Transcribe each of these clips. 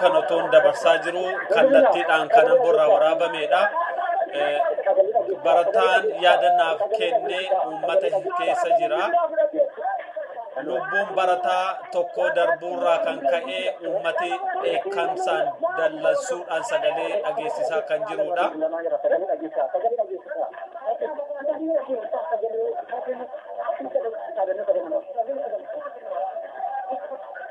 kan otoon dabarsaa jiru kallattiidhaan kan amborraa waraabamedha. Barataan yaadannaaf kenne uummata keessa jira. Lubbuun barataa tokko darbuurraa kan ka'e uummati dheekkamsaan dallansuudhaan sagalee dhageessisaa kan jirudha.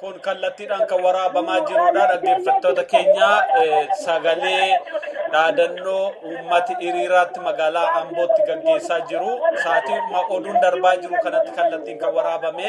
kun kallattiidhaan kan waraabamaa jirudha dhaggeeffattoota keenya sagalee dhaadannoo uummati hiriiraatti magaalaa ambootti gaggeessaa jiru sa'aatii oduun darbaa jiru kanatti kallattiin kan waraabame.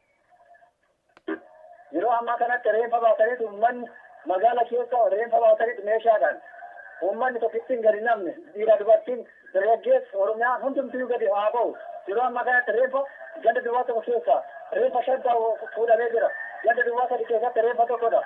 Yeroo ammaa kanatti reenfa baataniit uummanni magaala keessa reenfa baataniit meeshaadhaan uummanni tokkittiin gadi namni dhiiraa dubartiin dargaggeessi Oromiyaan hundumtiyyuu gadi haa bahu. Yeroo ammaa kanatti reenfa ganda duwwaa tokko keessaa reenfa shantaa fuudhamee jira. Ganda duwwaa sadi keessatti reenfa tokkodha.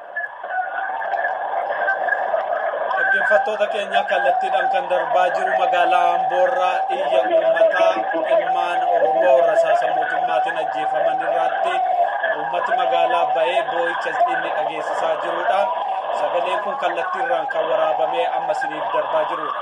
Dhaggeeffattoota keenya kallattiidhaan kan darbaa jiru magaalaa Amboorraa iyya uummataa ilmaan Oromoo rasaasa mootummaatiin ajjeefaman irratti uummati magaalaa ba'ee boo'icha inni dhageessisaa jirudha. Sagaleen kun kallattiirraan kan waraabamee amma isiniif darbaa jirudha.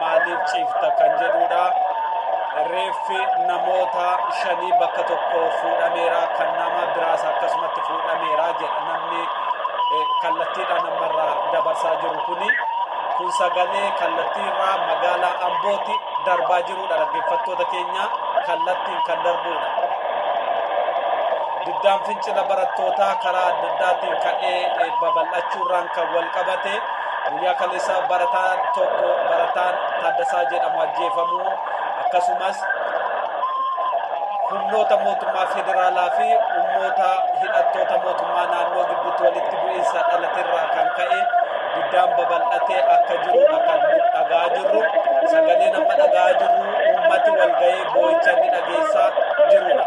maaliif ciifta kan jedhuudha. Reeffi namoota shanii bakka tokko fuudhameera kan nama biraas akkasumatti fuudhameera jedha namni kallattiidhaan ammarraa dabarsaa jiru kuni. Kun sagalee kallattiirraa magaalaa Ambooti darbaa jirudha dhaggeeffattoota keenya kallattiin kan darbudha. Diddaan fincila barattootaa karaa adda addaatiin ka'ee babal'achuurraan kan wal qabate Guyyaa kaleessaa barataan tokko barataan Taaddasaa jedhamu ajjeefamu akkasumas humnoota mootummaa federaalaa fi humnoota hidhattoota mootummaa naannoo gidduutti walitti bu'iinsa dhalaterraa kan ka'e guddaan babal'atee akka jiru kan dhagaa jirru sagalee nama dhagaa jirru uummati walga'ee boo'icha ni dhageessaa jirudha.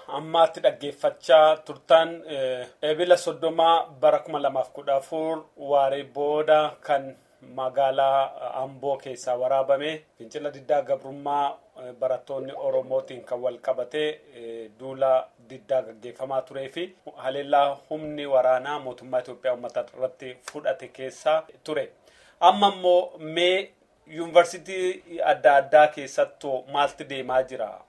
Ammaatti dhaggeeffachaa turtan Ebila 30 bara 2014 waaree booda kan magaalaa Amboo keessaa waraabame fincila diddaa gabrummaa barattoonni Oromootiin kan wal qabate duula diddaa gaggeeffamaa turee fi haleellaa humni waraanaa mootummaa Itoophiyaa uummata irratti fudhate keessaa ture. Amma immoo mee yuunivarsiitii adda addaa keessattuu maalti deemaa jira?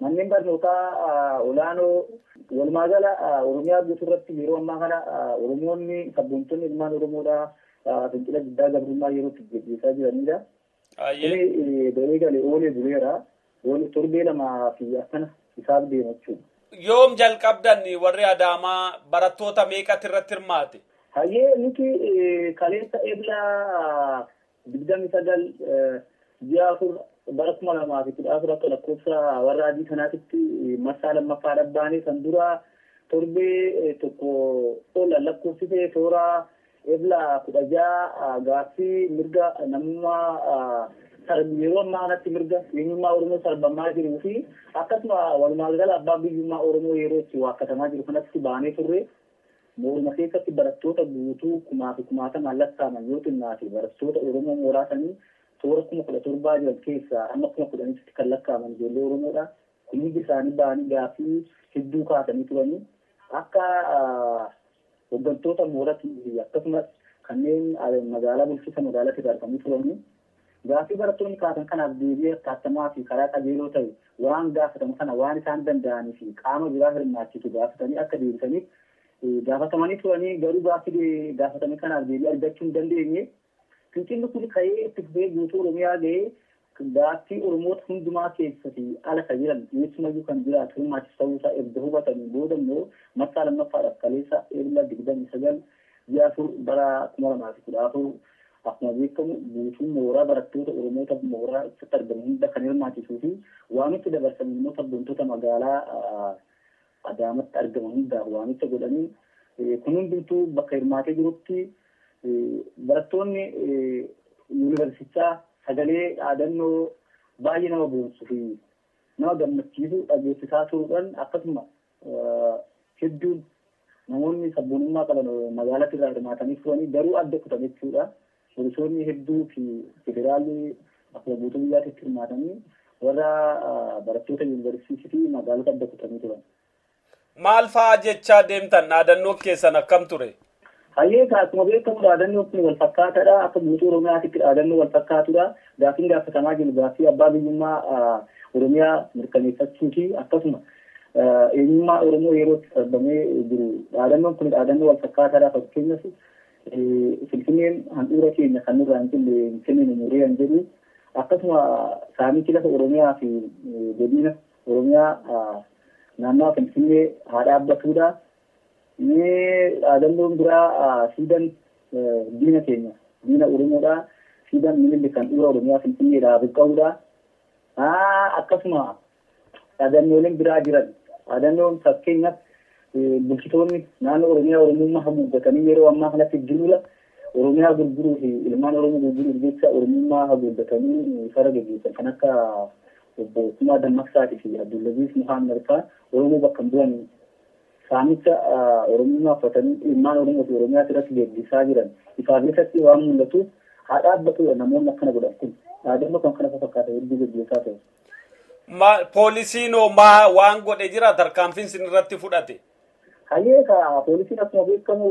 Manneen barnootaa olaanoo walumaagala Oromiyaa guutuurratti yeroo ammaa kana Oromoonni sabboontonni ilmaan Oromoodhaa fincila diddaa gabrummaa yeroo itti gaggeessaa jiranidha. Kuni ba'ee gale oolee buleera. Torbee lamaa fi akkana isaaf deema jechuudha. Yoom jalqabdan warri Adaamaa barattoota meeqatu irratti hirmaate? Hayyee nuti kaleessa Ebla 29 ji'a 4 bara 2014 akka lakkoofsa warra adii kanaatitti marsaa lammaffaa dhabbaanee san dura torbee tokko ol lakkoofsisee toora ebla 16 gaaffii mirga namummaa sarbi yeroo ammaa kanatti mirga eenyummaa Oromoo sarbamaa jiruu fi akkasuma walumaa gala abbaa biyyummaa Oromoo yeroo itti waakkatamaa jiru kanatti baanee turre. Mooruma keessatti barattoota guutuu kumaafi kumaatamaan lakkaaman yoo xinnaate barattoota Oromoo mooraa sanii toora kuma kudha torbaa jiran keessaa amma kuma kudhanitti kan lakkaaman ijoollee Oromoodha. Kun hundi isaanii ba'anii gaaffii hedduu kaasanii turani. Akka hoggantoota mooratii fi akkasumas kanneen magaalaa bulchiinsa magaalatiirraa dhufanii turani. Gaaffii barattoonni kaasan kanaaf deebii attattamaa fi karaa qajeeloo ta'e waan gaafatamu sana waan isaan danda'anii fi qaama biraa hirmaachisu gaafatanii akka deebisaniif gaafatamanii turanii garuu gaaffii gaafatame kanaaf deebii argachuu hin dandeenye. Fincilli kun ka'ee itti fufee guutuu Oromiyaa ga'ee gaaffii Oromoota hundumaa keessa fi ala ka jiran eessumayyuu kan jiraatu hirmaachisu ta'uu isaa erga hubatanii booda immoo marsaa lammaffaadhaaf kaleessa Ebla 29 ji'a 4 bara 2014 Akkuma beekamu guutuun mooraa barattoota Oromoota mooraa ibsatti argamu hunda kan hirmaachisuu fi waamicha dabarsaniin immoo sabboontoota magaalaa Adaamatti argaman hundaaf waamicha godhaniin kun hundumtuu bakka hirmaatee jirutti barattoonni yuunivarsiitichaa sagalee dhaadannoo baay'ee nama boonsu fi nama gammachiisu dhageessisaa turuudhaan akkasuma hedduun namoonni sabboonummaa qaban magaalatti irraa hirmaatanii turanii garuu adda kutan jechuudha. Poolisoonni hedduu fi federaalli akkuma guutuu biyyaatti hirmaatanii warra barattoota yuunivarsiitii fi magaalota adda kutanii turan. Maal fa'aa jechaa deemtan dhaadannoo keessan akkam ture? Hayyee egaa akkuma beekamu dhaadannoon kun wal fakkaataadha. Akka guutuu Oromiyaatitti dhaadannoo wal fakkaatudha. Gaaffiin gaafatamaa jiru gaaffii abbaa biyyummaa Oromiyaa mirkaneeffachuuti. Akkasuma eenyummaa Oromoo yeroo itti sarbamee jiru dhaadannoon kun dhaadannoo wal fakkaataadha. Fakkeenyaaf Finfinneen handhuura keenya kan nurraa hin cille hin kenninu murree kan jedhu akkasuma saamichi lafa Oromiyaa fi godina Oromiyaa naannawaa Finfinnee haa dhaabbatudha. Mee dhaadannoon biraa Siidan diina keenya, diina Oromoodha, Siidan Minilik handhuura Oromiyaa Finfinneedha haa buqqa'uudha. Akkasuma dhaadannooleen biraa jiran. Dhaadannoon fakkeenyaaf bulchitoonni naannoo Oromiyaa Oromummaa haguuggatanii yeroo ammaa kanatti duula Oromiyaa gurguruu fi ilmaan Oromoo gurguruuf jecha Oromummaa haguuggatanii isarra geggeessan kan akka obbo Kumaa Dammaqsaatii fi Abdullaziiz Muhammad fa'aa Oromoo bakka hin bu'an Saamicha Oromummaa uffatanii ilmaan Oromoo fi Oromiyaas irratti geeggeessaa jiran ifaa fi ifatti waan mul'atuuf haa dhaabbatudha namoonni akkana godhan kun dhaadannoo kan kana fakkaatan hedduu geggeessaa ta'u. Ma- Poolisiin hoo maa waan godhe jira tarkaanfiin sin irratti fudhate? Hayyee egaa poolisiin akkuma beekamu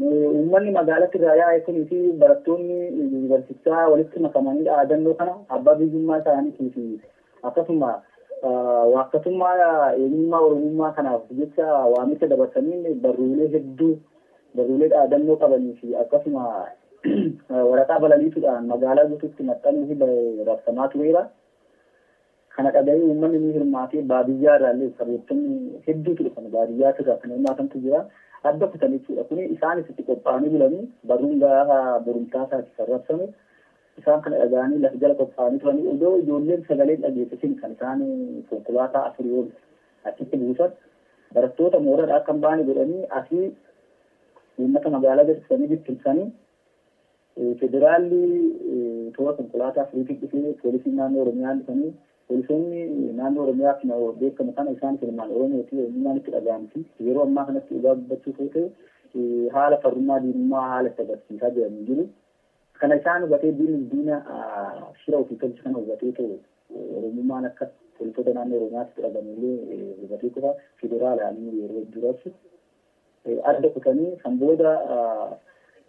eh, uummanni magaalatti irraa yaa'e kunii fi barattoonni yuunivarsiitichaa walitti makamanii dhaadannoo kana abbaa biyyummaa isaaniitii fi Akkasuma waakkatummaa eenyummaa Oromummaa kanaaf jecha waamicha dabarsaniin barruulee hedduu, barruulee dhaadannoo qabanii fi akkasuma waraqaa balaliituudhaan magaalaa guutuutti maxxanuufi bahe rabsamaa tureera. Kana dhagahee uummanni ni hirmaate. Baadiyyaa irraa illee sabootonni hedduutu dhufan. Baadiyyaas irraa kan hirmaatantu jira. Adda kutan jechuudha. Kuni isaanis itti qophaa'anii bulanii barruun gaafa borumtaasaati kan rabsamu. Isaan kana dhaga'anii lafa jala qophaa'anii turanii odoo ijoolleen sagalee hin dhageessisin kan isaan konkolaataa afurii ol achitti buusan. Barattoota mooradhaa akka hin baane godhanii asii uummata magaalaa geessisanii bittimsanii federaalli toora konkolaataa afuriitiin dhufee poolisiin naannoo Oromiyaa dhufanii poolisoonni naannoo Oromiyaa akkuma beekamu kana isaan ilmaan Oromooti eenyummaan itti dhaga'amti. Yeroo ammaa kanatti dhugaa dubbachuuf yoo ta'e haala farrummaa diinummaa haala itti agarsiisaa jiranii jiru. Kana isaan hubatee diinni diina shira ofii tolche kana hubatee too Oromummaan akka poolisoota naannoo Oromiyaatti fudhatan illee hubatee qofa federaalaan yeroo hedduu rabsu adda kutanii kan booda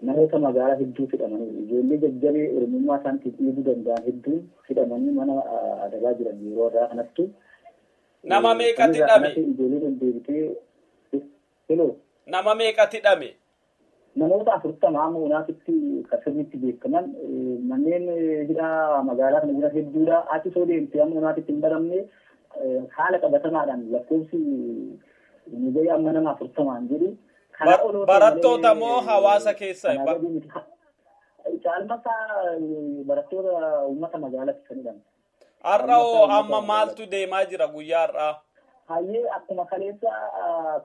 namoota magaalaa hedduu hidhamaniiru. Ijoollee jajjabee Oromummaa isaaniitiif dhiibuu danda'an hedduun hidhamanii mana adabaa jiran yeroo har'aa kanattu. Nama meeqatti dhame? Ijoolleen ol deebitee Heloo. Nama meeqatti dhame? Namoota 40 amma unaatitti kan sirriitti beekaman manneen hidhaa magaalaa kana jiran hedduudha. Achi soo deemte amma unaatitti hin baramne haala qabatamaadhaan lakkoofsi nu ga'e amma nama 40 hin jedhu. Kanaa ol Barattoota moo hawaasa keessa? Caalmasaa barattoota uummata magaalatti kan hidhaman. Har'a hoo amma maaltu deemaa jira guyyaa har'aa? Hayyee akkuma kaleessa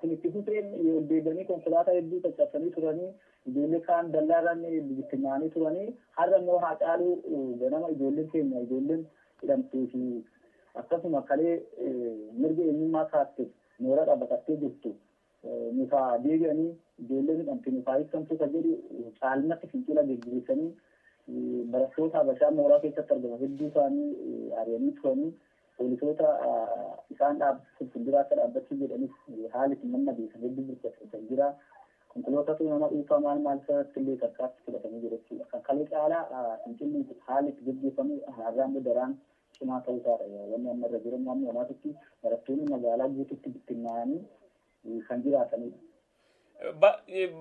kun itti fufeen ol deebi'anii konkolaataa hedduu caccabsanii turanii ijoollee kaan dallaarraan bittinnaa'anii turanii har'a immoo haa caaluu ganama ijoolleen keenya ijoolleen hidhamtee fi akkasuma kalee mirga eenyummaa kaaste mooraadhaa baqattee jirtu Nuuf haa deebi'anii, ijoolleen hidhamte nuuf haa hiikkamtuu kan jedhu caalmatti fincila geggeessanii barattoota Habashaa mooraa keessatti argaman hedduu isaanii ari'anii turanii poolisoota isaan dhaabsisuuf fuuldura akka dhaabbachuu jedhanis haala itti mammadeessan hedduu burjaajjachaa jira. Konkolootatu nama dhuunfaa maal maal irratti illee tarkaatti fudhatanii jira jechuudha. Kan kalee caalaa fincilli haala itti geggeeffamu har'aa immoo daraan cimaa ta'uu isaa dha. Wanni amma irra jiru amma ammaatitti barattoonni magaalaa guututti bittinnaa'anii kan jiraatanii dha.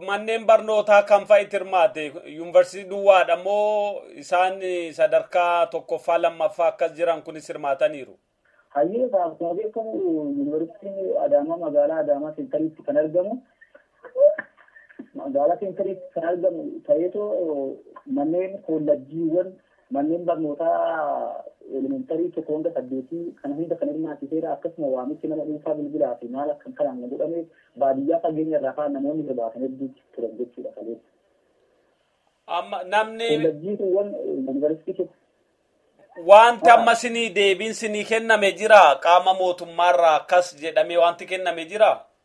Manneen barnootaa kam fa'i hirmaate? Yuunivarsiitii duwwaadha moo isaan sadarkaa tokkoffaa lammaffaa akkas jiran kunis hirmaataniiru? Hayyee akkuma beekamu yuunivarsiitiin Adaamaa magaalaa Adaamaa seentariitti kan argamu Magaalaa seentariitti kan argamu ta'eetoo manneen kollajjiiwwan manneen barnootaa elementarii tokko hanga saddeetii kana hunda kan hirmaachiseera akkasuma waamichi nama dhuunfaa bilbilaa fi maal akkan kanaan kan godhameef baadiyyaa fageenya irraa kaan namoonni hirmaatan hedduu turan jechuudha kaleessa. Amma namni Kollajjii kuuwwan yuunivarsiitii keessa wanti amma sinii deebiin sinii kenname jira qaama mootummaarraa akkas jedhamee wanti kenname jira.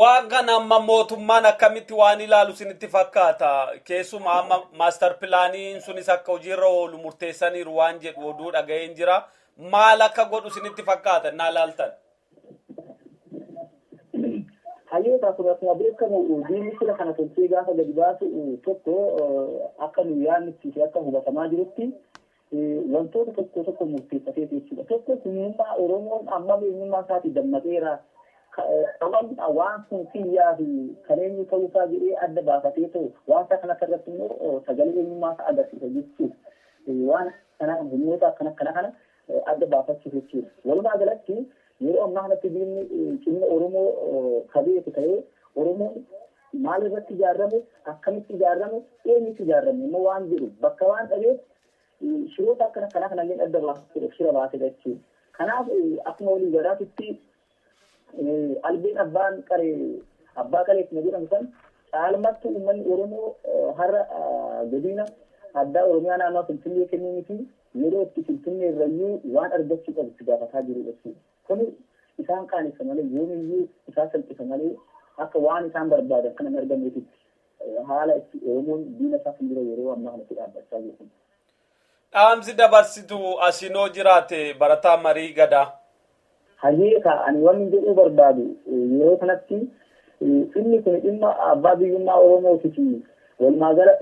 Waan kana amma mootummaan akkamitti waan ilaalu isinitti fakkaata? Keessumaa amma maastar pilaaniin sunis akka hojiirra oolu murteessaniiru waan jedhu oduu dhaga'een jira. Maal akka godhu isinitti fakkaata naa laaltan? Hayyoota kun akkuma beekamu diinni sira kana tolchee gaafa gadi baasu tokko akka nu yaadnutti fi akka hubatamaa jirutti wantoota tokko tokko murteeffateeti jechuudha. Tokko humnummaa Oromoon ammam eenyummaa isaatii dammaqeera. Ammam waan kun kiyyaa fi kan eenyu ta'uu isaa jedhee adda baafatee ta'u wanta kana irratti immoo sagalee eenyummaa isaa agarsiisa jechuuf waan kana humnoota akkana akkana kana adda baafachuuf jechuudha. Walumaa galatti Yeroo ammaa kanatti diinni cimina Oromoo ka beeku ta'ee Oromoon maal irratti ijaarrame, akkamitti ijaarrame, eenyutu ijaarrame immoo waan jedhu bakka waan dhabeef shiroota akkana akkanaa kanallee adda baasuudhaaf shira baasedha jechuudha. Kanaaf akkuma walii galaatitti albeen abbaan qare abbaa qalee akkuma jedhamu san caalmattu uummanni Oromoo har'a godina addaa Oromiyaa naannoo Finfinnee kennuu miti Yeroo itti Finfinnee irrayyuu waan argachuu qabu itti gaafataa jiru jechuudha. Kuni isaan qaanessa malee, yoomiyyuu isaan salphisa malee akka waan isaan barbaadan kana hin arganneetitti haala itti Oromoon diina isaa fuuldura yeroo ammaa kana itti dhaabbachaa jiru kun. Dhaamsi dabarsitu asiin hoo jiraate barataa Marii Gadaa. Hayyee kaa ani wanni jedhuu barbaadu yeroo kanatti dhimmi kuni dhimma abbaa biyyummaa Oromootifi walumaa gala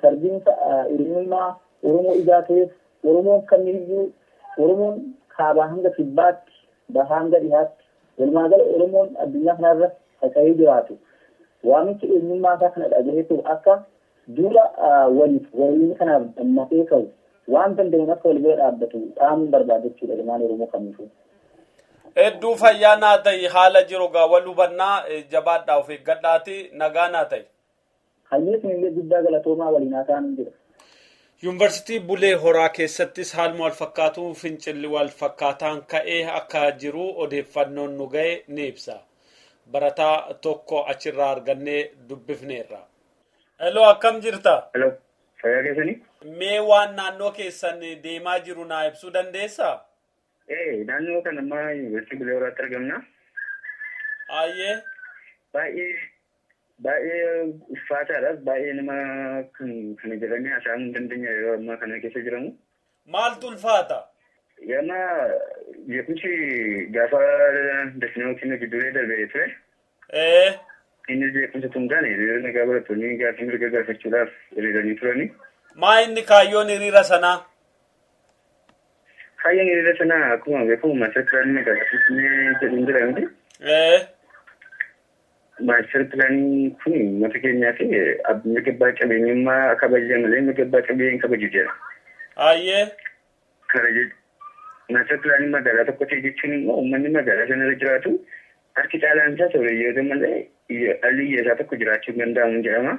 sarbiinsa eenyummaa Oromoo ijaa ta'eef Oromoon kamiyyuu Oromoon kaabaa hanga kibbaatti, bahaa hanga dhihaatti walumaa gala Oromoon addunyaa kanarra faca'ee jiraatu waamicha eenyummaasaa kana dhaga'eetoo akka Duula waliif wareeguu kanaaf dammaqee ka'u, waan danda'uun akka wal bira dhaabbatu dhaamuun barbaada jechuudha ilmaan Oromoo kamiifuu. Hedduu fayyaa naa ta'i haala jiru gaa wal hubannaa jabaadhaa of eeggadhaati nagaa naa ta'i. Hayyee isinillee guddaa galatoomaa waliin haa taanu jedha. Yuunivarsiitii Bulee Horaa keessattis haaluma wal fakkaatuun fincilli wal fakkaataan ka'ee akka jiru odeeffannoon nu ga'e ni ibsa. Barataa tokko achirraa argannee dubbifneerra. Hello akkam jirta? Hello. Fayyaa keessanii? Mee waan naannoo keessan deemaa jiru naa ibsuu dandeessaa? Ee naannoo kan ammaa yuunivarsiitii Bulee Horaatti argamna. Ayyee. Baay'ee baay'ee ulfaataadhas baay'ee nama kan kana jedhamee haasa'amuu hin dandeenye yeroo ammaa kana keessa jiramu. maaltu ulfaata? Gama jeequmsi gaafa Dasnoo Kinnoo jidduulee darbe ture. Ee. Inni jeequmsa tun taane hiriira nagaa barattoonni gaaffii mirga gaafachuudhaaf hiriiranii turani. Maa inni kaayyoon hiriira sanaa? Kaayyoon hiriira sanaa akkuma beekamu master pilaanii magaalaa Finfinnee jedhuun jira miti. Ee. Maastar pilaanii kun uummata keenyaa fi mirga abbaa qabeenyummaa kabaja malee mirga abbaa qabeenyaa hin kabaju jedha. Ayyee. Kana jechuun maastar pilaanii magaalaa tokko ta'e jechuun immoo uummanni magaalaa sana irra jiraatu harki caalaan isaa sooreyyoota malee dhalli hiyyeessaa tokko jiraachuu hin danda'amu jedhama.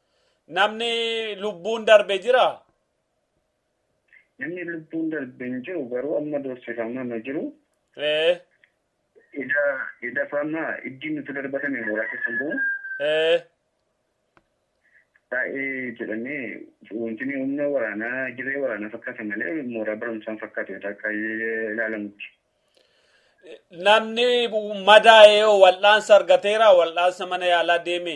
Namni lubbuun darbe jira? Namni lubbuun darbe hin jiru garuu amma doorsifamaa ma jiru. Ee, Ida ida fama iddi nuti darbatame mooraa keessa bu'u ee, baay'ee jedhamee wanti inni humna waraanaa dirree waraanaa fakkaata malee mooraa barumsaan fakkaatu yoo akka ilaalamutti. namni madaa'ee hoo wal'aansa argateera? Wal'aansa mana yaalaa deeme?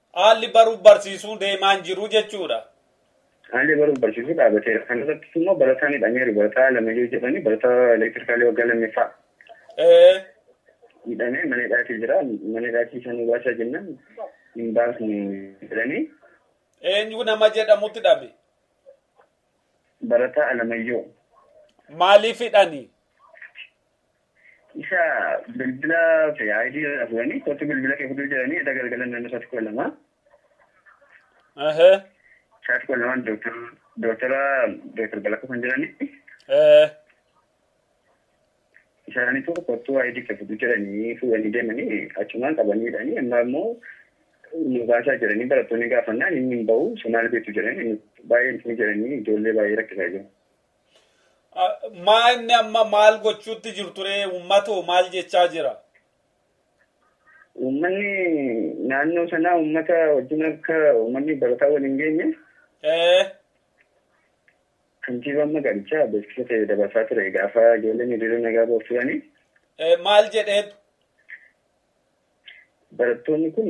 Haalli baruuf barsiisuu deemaa hin jiru jechuudha. Haalli baruuf barsiisuu dhaabateera. Kana irrattis immoo barataa midhameeru. Barataa Alamayyoo jedhani barataa elektirikaalii waggaa lammaffaa. Ee. Midhamee mana hidhaatii jira. Mana hidhaatii isa nu baasaa jennaan hin baasnu jedhanii Eenyu nama jedhamutti hidhame? barataa Alamayyoo Maaliif hidhani? Isa bilbila fi ID irraa fuudhanii kottu bilbila kee fudhuu jedhanii edda galgalan naannoo isaatti kudha lama. Ehe. Isaatti kudha lamaan dooktar dooktara dooktar Balaqqoo kan jedhani Ee. isaaniitu kottuu ID kee fudhuu jedhanii fuudhanii deemanii achumaan qabanii hidhanii amma immoo nu baasaa jedhanii barattoonni gaafannaan inni hin bahu isa maal beektu jedhanii nu- baay'ee hin jedhanii ijoollee baay'ee rakkisaa jiru. Maa inni amma maal gochuutti jirtu ree uummatoo maal jechaa jira? Uummanni naannoo sanaa uummata wajjin akka uummanni barataa wal hin geenye Ee, kantiibaan magaalichaa beeksisa ta'e dabarsaa ture gaafa ijoolleen hiriira nagaa ba'uuf turanii ee, maal jedheetu? Barattoonni kun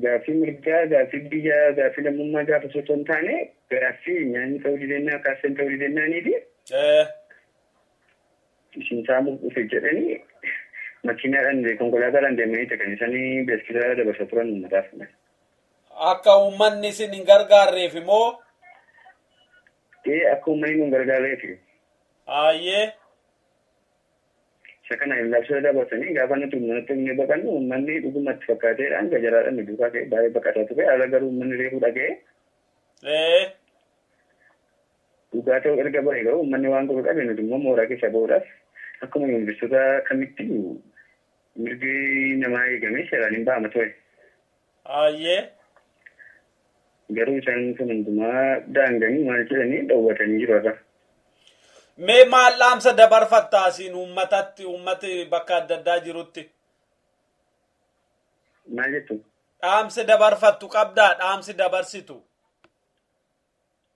gaaffii mirgaa, gaaffii biyyaa, gaaffii lammummaa gaafachuu otoo hin taane gaaffii nyaanni ta'uu didennaa, kaaffeen ta'uu didennaanii fi isin saamuuf dhufe jedhanii makiinaadhaan konkolaataadhaan deemanii kan isaan beeksisa dabarsa turan uummataaf. Akka uummanni isin hin gargaarreef moo? Ee akka uummanni nu hin gargaarreef. Ayyee. Isa kana hin labsina dabarsanii gaafa nuti uummanatti himnee baqannu uummanni dhuguma itti fakkaateedha hanga jaraadhaan nu duukaa ka'ee baay'ee baqataa ture haala garuu uummanni reefuu dhaga'ee. Ee. Dhugaa ta'uu erga baree garuu uummanni waan godhu dhabe nuti immoo mooraa keessaa ba'uudhaaf akkuma yuunivarsiitota kamitti mirgi namaa eegamee seeraan hin ba'ama ture. Aayyee. Garuu isaanii kun hundumaa daanganii maal jedhanii dhowwatanii jiru irra. Mee maal dhaamsa dabarfatta asiin uummatatti uummati bakka adda addaa jirutti? Maal jettu? Dhaamsi dabarfattu qabdaa dhaamsi dabarsitu.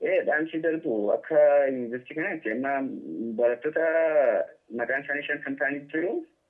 Ee dhaamsi darbu akka yuunivarsiitii kanaatti amma barattoota maqaan isaanii shantam ta'anii jiru.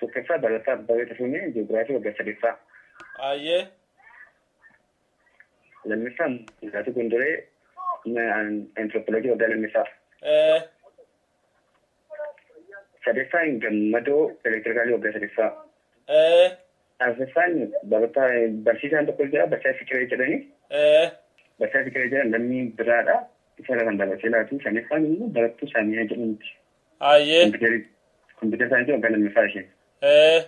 Tokkoffaa Barataa Abbabee Tashomee Ji'oogiraafii waggaa sadeeffaa. Ayyee. Lammaffaa Mulaatuu Gondoree Antiroopoloojii waggaa lammaffaa. Ee. Sadeeffaan Gammadoo Elektirikaalii waggaa sadeeffaa. Ee. Arfaffaan barataa barsiisaan tokko jira barsiisaa Fikiree jedhani. Ee. Barsiisaa Fikiree jedhan lammii biraadha. Isa irra kan dabarsee laatu. Shanaffaan immoo barattuu Saamiyaa jedhamti. Hayyee. Kompiitari- Kompiitara saayinsii waggaa lammaffaa isheen. Ee.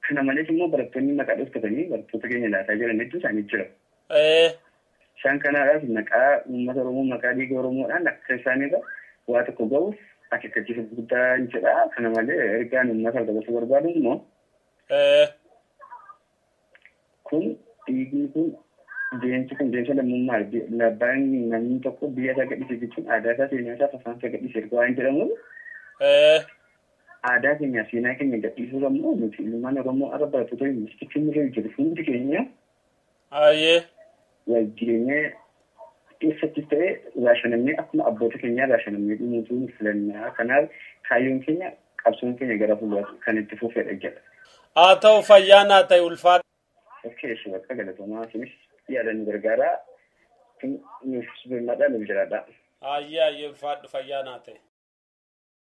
Kana malees immoo barattoonni maqaa dhoftatanii barattoota keenya laataa jiran hedduu isaanii jira. Ee. Isaan kanaadhaaf maqaa uummata Oromoo maqaa dhiiga Oromoodhaan akka isaanirra waa tokko ga'uuf akeekkachiisa guddaa hin jedha. Kana malee ergaan uummataaf dabarsuu barbaadu immoo Ee. Kun dhiigni kun deemsi kun deemsa lammummaa labbaan namni tokko biyya isaa gadhiise jechuun aadaa isaa seenaa isaa afaan isaa gadhiise erga waan jedhamuuf aadaa keenya seenaa keenya gadhiisuu qabnu nuti ilmaan Oromoo arra barattoota yuunivarsiitii keenya irra jiru hundi keenya Ayyee. wal jireenyaa keessattis ta'e raashanamnee akkuma abboota keenyaa raashanamnee dhumuutu nu filannaa kanaaf kaayyoon keenya qabsoon keenya gara fuulduraatti kan itti fufedha jedha. Haa ta'u fayyaa naa ta'e ulfaadha. Okkee ishee bakka galatoomaa isinis yaada nu gargaaraa nuuf birmadhaa nuuf jiraadhaa. Ayyee ayyee ulfaadhu fayyaa naa ta'e.